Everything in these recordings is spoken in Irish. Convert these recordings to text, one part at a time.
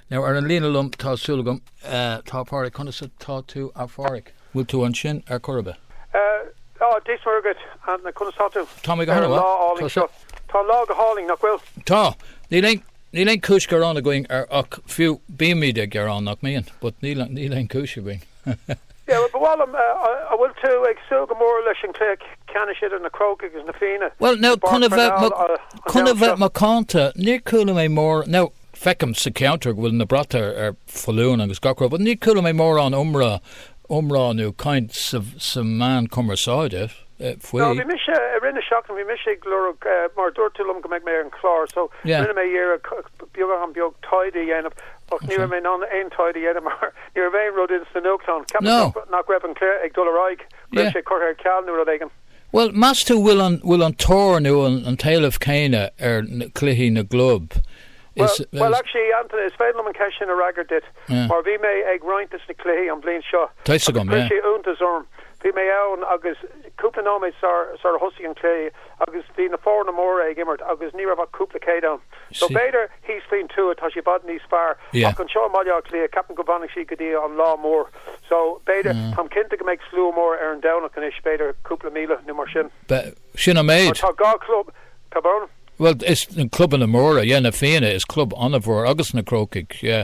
Now, ar an líne liom, tá súil agam, tá Pádraig. Conas atá tú, a Phádraig? Bhfuil tú ansin ar chor ar bith? Tá, Dia is Muire dhuit. Conas tá tú? Tá mé go hana mhaith. Ar an lá álainn seo. Tá an lá go hálainn, nach bhfuil? Tá. Níl aon chúis gearáin againn ach, fiú, bímid ag gearán, nach mbíonn? But níl aon chúis againn. Abair liom an bhfuil tú ag súil go mór leis an cluiche ceannais idir na Crócaigh agus na Fianna i bPáirc Pharnell an Domhnach seo. Chun a bheith macánta, níor chuala mé mórán, nó feicim sa cheantar go bhfuil na bratacha ar foluain agus gach rud, but níor chuala mé mórán iomrá, iomrá nó caint sna meáin cumarsáide faoi. Bhí mise, i rith na seachtaine, bhí mise ag lorg, mar dúirt tú liom go mbeadh mé ar an chlár, so rinne mé iarracht beagán beag taighde a dhéanamh ach ní raibh mé in ann aon taighde a dhéanamh mar, Ní raibh aon rud sna nuachtáin. Cheapfá nach raibh an cluiche ag dul ar aghaidh, go raibh sé curtha ar ceal nó rud éigin? Bhuel, meas tú bhfuil an tóir nó an t-éileamh céanna ar chluichí na gclub is atá. Bhuel, actually, Antaine, is féidir liom an cheist sin a fhreagairt duit mar bhí mé ag roinnt de na cluichí an bhliain seo agus chuir sé iontas orm. Bhí mé ann agus cúpla nóiméad sar a thosaigh an cluiche agus bhí na foirne móra ag imirt agus ní raibh ach cúpla céad ann. So, b'fhéidir, Thíos faoin tuath tá sé i bhfad níos fearr ach anseo i mBaile Átha Cliath ceapaim go bhfanfaidh siad go dtí an lá mór so b'fhéidir, táim cinnte go mbeidh slua mór ar an Domhnach anois, b'fhéidir cúpla míle nó mar sin. Sin an méid. Tá dhá chlub, tá bun. Bhuel, is clubanna an-mhóra, yeah, na Fianna is club an-mhór agus na Crócaigh, yeah.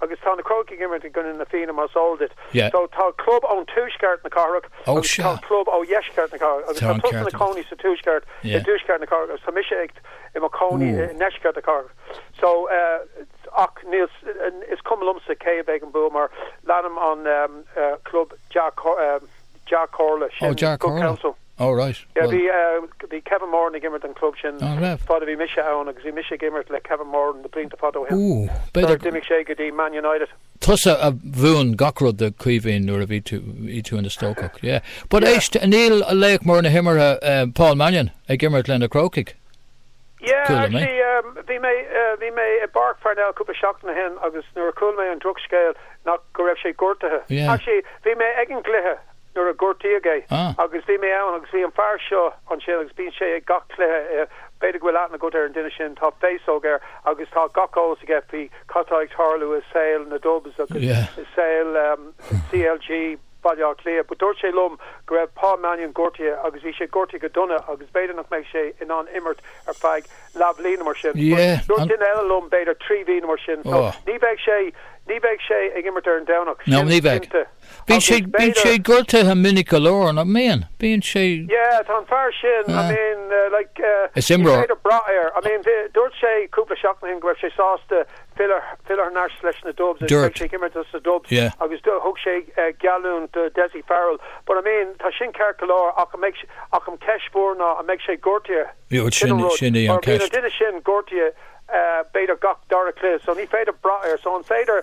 Agus tá na Crócaigh ag imirt i gcoinne Na Fianna, mar is eol duit. So, tá club ó thuaisceart na cathrach agus tá club ó dheisceart na cathrach. Agus tá tusa i do chónaí sa tuaisceart, i dtuaisceart na cathrach, agus tá mise i mo chónaí i ndeisceart na cathrach. So, ach níl, is cuma liomsa cé aige a mbeidh an bua mar leanaim an club dea-chomhairle sin, Good Counsel. Oh right, Yeah, bhí, well. bhí Kevin Moran ag imirt don chlub sin An raibh? fad a bhí mise ann agus bhí mise ag imirt le Kevin Moran na blianta fada ó shin Ooh, b'fhéidir sular d'imigh sé go dtí Man United. tusa a mhúin gach rud do Chaoimhín nuair a bhí tú, bhí tú ina stócach, yeah. But Yeah. éist, níl laoch mór na himeartha, eh, Paul Mannion ag imirt le na Crócaigh. Yeah, Chuala mé. actually, um, bhí mé, eh, bhí mé i bPáirc Pharnell cúpla seachtain ó shin agus nuair a chuala mé an drochscéal nach go raibh sé gortaithe. Yeah. Actually, bhí mé ag an gcluiche nuair a gortaíodh é. Ah. Agus bhí mé ann agus bhí an fear seo ansin agus bíonn sé ag gach cluiche, b'fhéidir go bhfuil aithne agat ar an duine sin, tá féasóg air agus tá gach eolas aige faoi cad tá ag tarlú i saol na Dubs agus i saol CLG Bhaile Átha Cliath. But dúirt sé liom go raibh Paul Mannion gortaithe agus bhí sé gortaithe go dona agus b'fhéidir nach mbeadh sé in ann imirt ar feadh leathbhliain nó mar sin. But dúirt duine eile liom b'fhéidir trí mhí nó mar sin. So ní bheidh sé ní bheidh sé ag imirt ar an Domhnach, sin cinnte. Bíonn sé bíonn sé gortaithe minic go leor nach mbíonn? Bíonn sé Yeah tá an fear sin I mean like Is imreoir ní féidir brath air I mean dúirt sé cúpla seachtain ó shin go raibh sé sásta filleadh filleadh thar n-ais leis na Dubs agus beidh sé ag imirt sa Dubs agus thug sé geallúint do Dessie Farrell but I mean tá sin ceart go leor ach an mbeidh ach an ceist mhór ná an mbeidh sé gortaithe sin sin é an ceist. Duine sin gortaithe b'fhéidir gach dara cluiche so ní féidir brath air so an féidir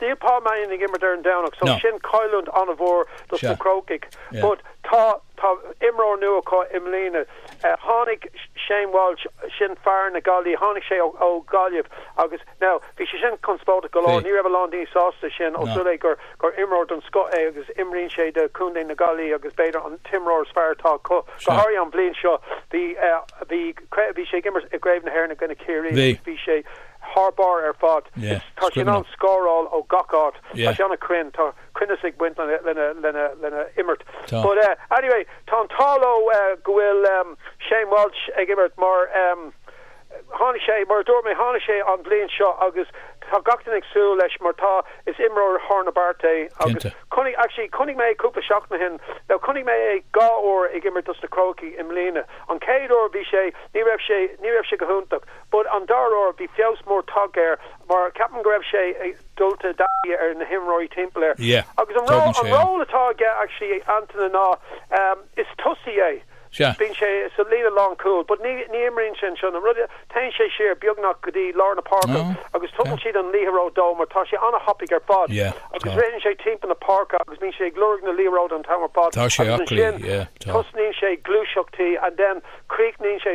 Níl Paul Mannion ag imirt ar an Domhnach so sin cailliúint an-mhór dos na Crócaigh but tá imreoir nua acu i mbliana. Tháinig Shane Walsh, sin fear na Gaillí, tháinig sé ó Ghaillimh agus now bhí sé sin conspóideach go leor, ní raibh a lán daoine sásta leis sin ós rud é gur imreoir den scoth é agus imríonn sé do Chontae na Gaillí agus b'fhéidir an t-imreoir is fearr atá acu, go háirithe an bhliain seo. Bhí sé ag imirt i gCraobh na hÉireann i gcoinne Chiarraí agus bhí sé. thar barr ar fad. Is tá sé in ann scóráil ó gach áit. Tá sé ana cruinn. Tá cruinneas ag baint lena lena imirt. But eh anyway, tá an t-ádh leo go bhfuil ehm Shane Walsh ag imirt mar ehm tháinig sé mar a dúirt mé tháinig sé an bhliain seo agus tá gach duine ag súil leis mar tá is imreoir thar na bearta é agus chonaic actually chonaic mé cúpla seachtain ó shin nó chonaic mé é dhá uair ag imirt dos na Crócaigh i mbliana. An chéad uair bhí sé ní raibh sé ní raibh sé go hiontach But an dara uair bhí feabhas mór tagtha air mar ceapaim go raibh sé dulta i dtaithí ar na himreoirí timpeall air. Yeah. Agus an Tógann sé an. ról atá aige actually Antaine ná is tosaí é. Sea. Bíonn sé sa líne lánchúil but ní imríonn sé anseo. An rud é, téann sé siar beagnach go dtí lár na páirce Oh. agus tugann siad an liathróid dó mar tá sé an-thapaidh ar fad. Yeah. Tá. Agus ritheann sé timpeall na páirce agus bíonn sé ag lorg na liathróide an t-am ar fad. Tá sé Agus aclaí. ansin Yeah. Tá. tosnaíonn sé ag gluaiseachtaí and then críochnaíonn sé.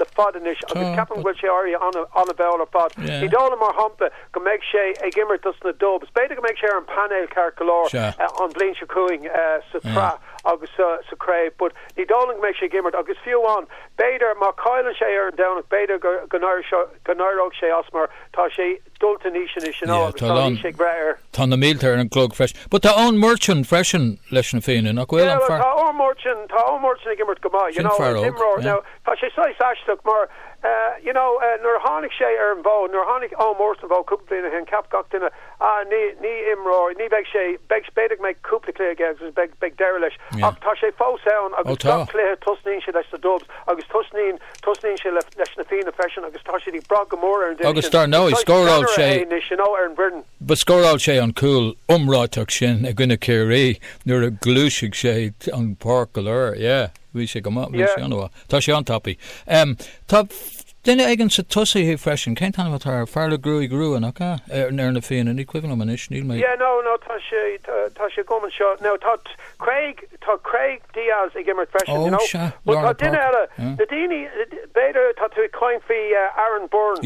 le fada anois agus ceapaim go bhfuil sé éirithe an-mhall ar fad. Ní dóigh liom, mar shampla, go mbeidh sé ag imirt dos na Dubs. B'fhéidir go mbeidh sé ar an bpainéal ceart go leor an bhliain seo chugainn sa tsraith agus sa chraobh, but ní dóigh liom go mbeidh sé ag imirt agus fiú amháin, b'fhéidir, má chailleann sé ar an Domhnach, b'fhéidir go n-éireodh sé as mar tá sé dulta in aois anois anall Yeah, agus tá a tá a lán, aois ag brath air. tá na mílte ar an gclog freisin. But tá Eoin Murchan freisin leis na Fianna, nach bhfuil? Yeah, An well, fear, tá Eoin Murchan, tá Eoin Murchan ag imirt go maith, you sin know, fear is óg, imreoir. yeah. Now, tá sé saghas aisteach mar, eh, you know, eh, nuair a tháinig sé ar an bhfód, nuair a tháinig Eoin Murchan ar an bhfód cúpla bliain ó shin, cheap gach duine, ah, ní, ní imreoir, ní bheidh sé, b'fhéidir go mbeidh cúpla cluiche aige agus beidh, beidh deireadh leis. Yeah. Ach tá sé fós ann Ó, agus tá. gach cluiche tosnaíonn sé leis na Dubs agus tosnaíonn Tosnaíonn sé leis na Fianna freisin agus tá siad ag brath go mór ar an duine sin. Is saghas sceannaire é anois ar an bhfoireann. Scóráil sé an cúl iomráiteach sin i gcoinne Chiarraí nuair a ghluais sé an páirc go léir. Bhí sé go maith. Bhí sé an-mhaith. Tá sé an-tapaidh. Tá duine éigin sna tosaithe freisin. Cén t-ainm atá air? Fear le gruaig rua, nach ea? Ar na Fianna. Ní cuimhin liom anois. Níl mé. Yeah, no, no, tá sé, tá sé agam anseo. Now, tá. Craig, tá Craig Dias ag imirt freisin, you know, but tá duine eile, na daoine, b'fhéidir tá tú ag caint faoi Aaron Byrne,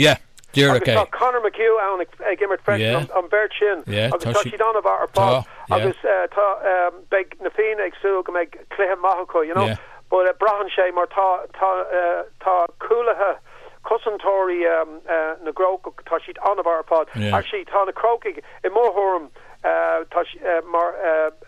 agus tá Conor McHugh ann ag imirt freisin, an bheirt sin, agus tá siad an-mhaith ar fad, agus tá, beidh na Fianna ag súil go mbeidh cluiche maith acu, you know, but braitheann sé mar tá, tá, tá cúlaithe, cosantóirí na gCrócach, tá siad an-mhaith ar fad, actually tá na Crócaigh, i mo thuairim, tá siad mar.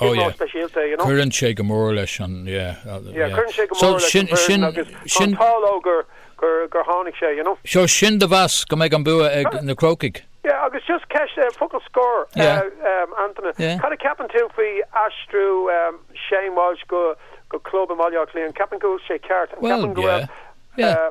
Ó yeah, cuireann sé go mór leis an, yeah, so sin, sin, so sin do mheas go mbeidh an bua ag na Crócaigh? Yeah, agus just ceist, focal scoir, Antaine, cad a cheapann tú faoi aistriú Shane Walsh go club i mBaile Átha Cliath, an ceapann go bhfuil sé ceart, an ceapann go bhfuil, yeah, yeah.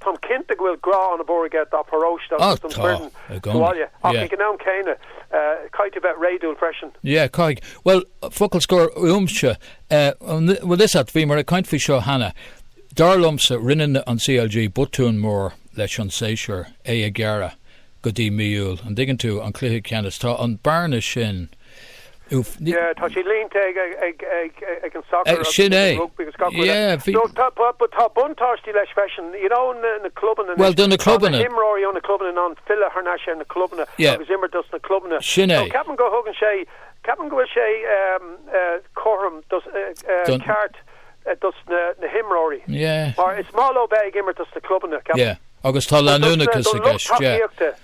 Táim cinnte go bhfuil grá ana-mhór aige dá pharóiste agus don foireann sa bhaile, ach ag an am céanna, caithfidh tú bheith réadúil freisin. Yeah, caithfidh. Bhuel, focal scoir uaimse. Bhfuil fhios a't, bhíomar ag caint faoi seo cheana, dar liomsa, rinne CLG botún mór leis an séasúr, é a ghearradh go dtí mí Iúil, an dtuigeann tú, an cluiche ceannais, tá an bearna sin, Tá sé líonta ag an sacar agus ag an rugbaí agus gach rud eile. Tá buntáistí leis freisin, you know na clubanna anois. Bhuel do na clubanna. Tá na himreoirí ó na clubanna in ann filleadh thar n-ais ar na clubanna agus imirt dos na clubanna. Sin é. Ceapaim go thugann sé, ceapaim go bhfuil sé cothrom dos, ceart dos na himreoirí. Mar is maith leo bheith ag imirt dos na clubanna, ceapaim. Yeah, agus tá leanúnachas i gceist, yeah.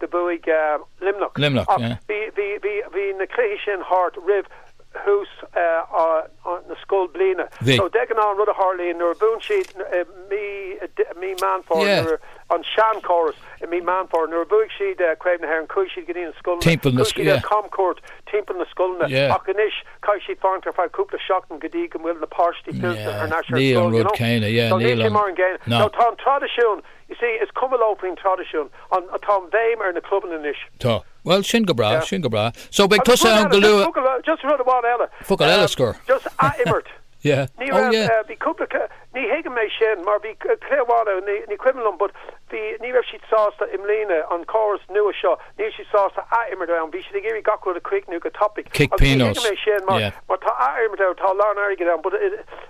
do bhuaigh Luimneach. Luimneach, yeah. Bhí na cluichí sin thart roimh thús na scoilbhliana. Bhí. So de ghnáth an rud a tharlaíonn nuair a bhuann siad i mí, mí Meán Fómhair. Yeah. Nuair, an seanchóras, i mí Meán Fómhair, nuair a bhuaigh siad Craobh na hÉireann chuaigh siad go dtí na scoileanna. Timpeall na, yeah. Chuaigh siad ar camchuairt timpeall na scoileanna. Yeah. Ach anois caithfidh siad fanacht ar feadh cúpla seachtain go dtí go bhfuil na páistí fillte thar n-ais ar scoil, you know. Níl an rud céanna, yeah, níl an. So níl sé mar an gcéanna. No. So tá an traidisiún Is ea, is cuma leo faoin traidisiún. An, tá an bhéim ar na clubanna anois. Tá. Bhuel, sin go breá, sin go breá. So, beidh tusa ann go luath. Agus rud eile, just focal, just rud amháin eile, Focal scoir. eile, just athimirt. Yeah. Oh, yeah. Ní raibh, eh, bhí cúpla, ca- ní thuigim é sin, mar bhí c- cluiche amháin ann, ní, ní cuimhin liom, but bhí, ní raibh siad sásta i mbliana, an córas nua seo, níl siad sásta athimirt ann, bhí siad ag iarraidh gach rud a críochnú go tapa. Cic pionóis. Agus ní thuigim é sin, mar, Yeah. mar tá athimirt ann, tá a lán airgid ann, but it,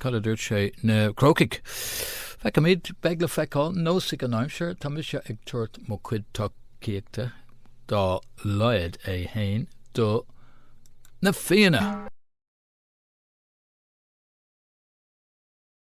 Cad a dúirt sé na Crócaigh? Feicimid, beidh le feiceáil neosfaidh an aimsir, tá mise ag tabhairt mo chuid tacaíochta dá laghad é féin do na Fianna.